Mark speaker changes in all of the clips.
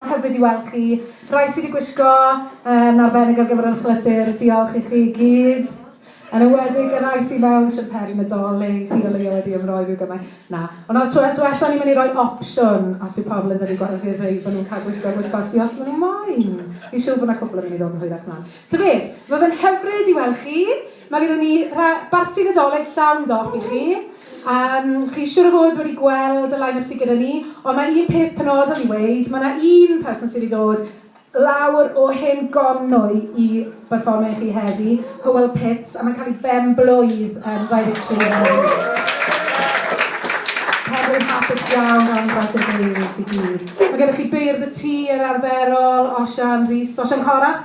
Speaker 1: Hyfryd i weld chi. Rai sydd wedi gwisgo yn arbennig ar gyfer yr achlysur, diolch i chi i gyd. Yn enwedig y rai sydd mewn siwmperi Nadolig, chi o leia wedi ymroi rhyw gymaint. Na. Ond nawr tro diwetha ni'n mynd i roi opsiwn os yw pobl yn dynnu gwallt i'r rei bod nhw'n cael gwisgo'r wisgosi os maen nhw moyn. Fi'n siŵr bod 'na cwpl yn mynd i ddod yn hwyrach mlan. Ta beth, ma' fe'n hyfryd i weld chi. Mae gyda ni rha- barti Nadolig llawn dop i chi. Um, chi siwr o fod wedi gweld y line-up sydd gyda ni, ond mae un peth penodol i weid, mae yna un person sydd wedi dod lawr o hen gonnwy i berfformio i chi heddi, Hywel Pitts, a mae'n cael ei ben-blwydd yn 23 heddi. Hefyd hapus iawn am gwaith y ddeulu i gyd. Mae gennych chi beirdd y tŷ yr arferol, Osian Rhys, Osian Corach.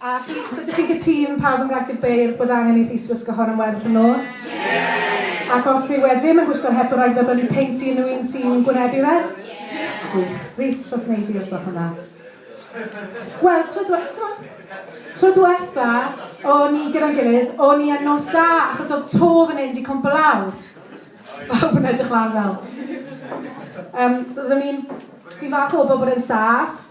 Speaker 1: A Rhys, ydych chi'n cytun, pawb yn Mraig Dydd Beirdd, bod angen i Rhys wisgo hon am werdd y nos? Ie! Ac os yw e ddim yn gwisgo'r het, bod rhaid iddo brynu peint i unrhyw un sy'n gwynebu fe? Ie! Gwych. Rhys, faswnai di os gwelwch yn dda. Wel, tro dwe- t'mod, tro dwetha o'n ni gyda'n gilydd, o'n i yn Nos Da, achos o'dd to fan 'yn 'di cwmpo lawr. Pawb yn edrych lan fel. Yym, oeddwn i'n... Fi'n falch o wybod bod e'n saff.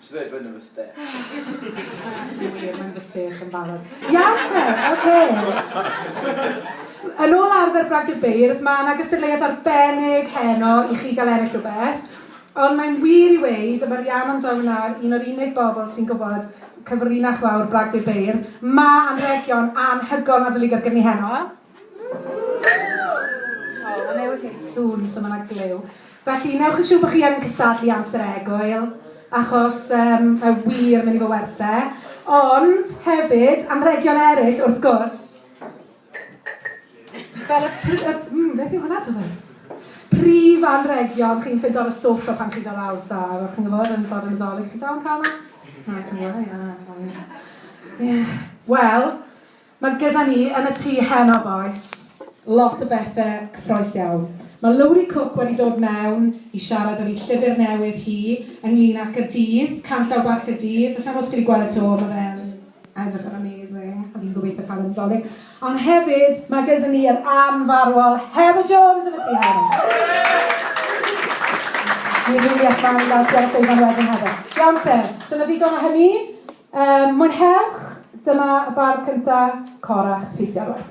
Speaker 2: Nes i ddeud bod hyn
Speaker 3: yn fy
Speaker 1: stêc. Yn wir, mae'n fy stêc yn barod. Iawn te, oce. Yn ôl arfer Bradford Beirdd, mae yna gystadleuaeth arbennig heno i chi gael ennill rhywbeth. Ond mae'n wir i weyd, y mae'r Ian amdano yna, un o'r unig bobl sy'n gwybod cyfrinach fawr Bradford Beirdd. Mae anrhegion anhygoel Nadolig ar gyfni heno. O, mae'n newid ei sŵn, so mae'n aglew. Felly, wnewch yn siŵr bod chi yn cystadlu amser a egwyl, achos um, mae wir mynd i fod werth e. Ond, hefyd, anregion eraill, wrth gwrs. Fel y... y mm, beth yw hwnna, ti'n Prif anregion, chi'n ffindo ar y sofa pan chi'n dod lawr, ta, fel chi'n gwybod, yn dod yn y ddolig, chi'n dal yn cael yna? Na, ti'n gwybod, ie. Wel, Mae gyda ni yn y tŷ heno bois. Lot o bethe cyffroes iawn. Mae Lowri Cook wedi dod mewn i siarad am ei llyfr newydd hi ynglyn ac y dydd, Canllaw Bach y Dydd. Sa i'n gwybod os chi wedi gweld e 'to, ma' fe'n edrych yn amazing a fi'n gobeithio cael e yn y Dolig. Ond hefyd, mae gyda ni yr anfarwol Heather Jones yn y tŷ heno. Fi'n rili edrych mlan i gael ti ar y llwyfan wedyn Heather. Iawn te, dyna ddigon o hynny. Yym, mwynhewch! Dyma y bardd cynta, Corach Rhys Iorwerth.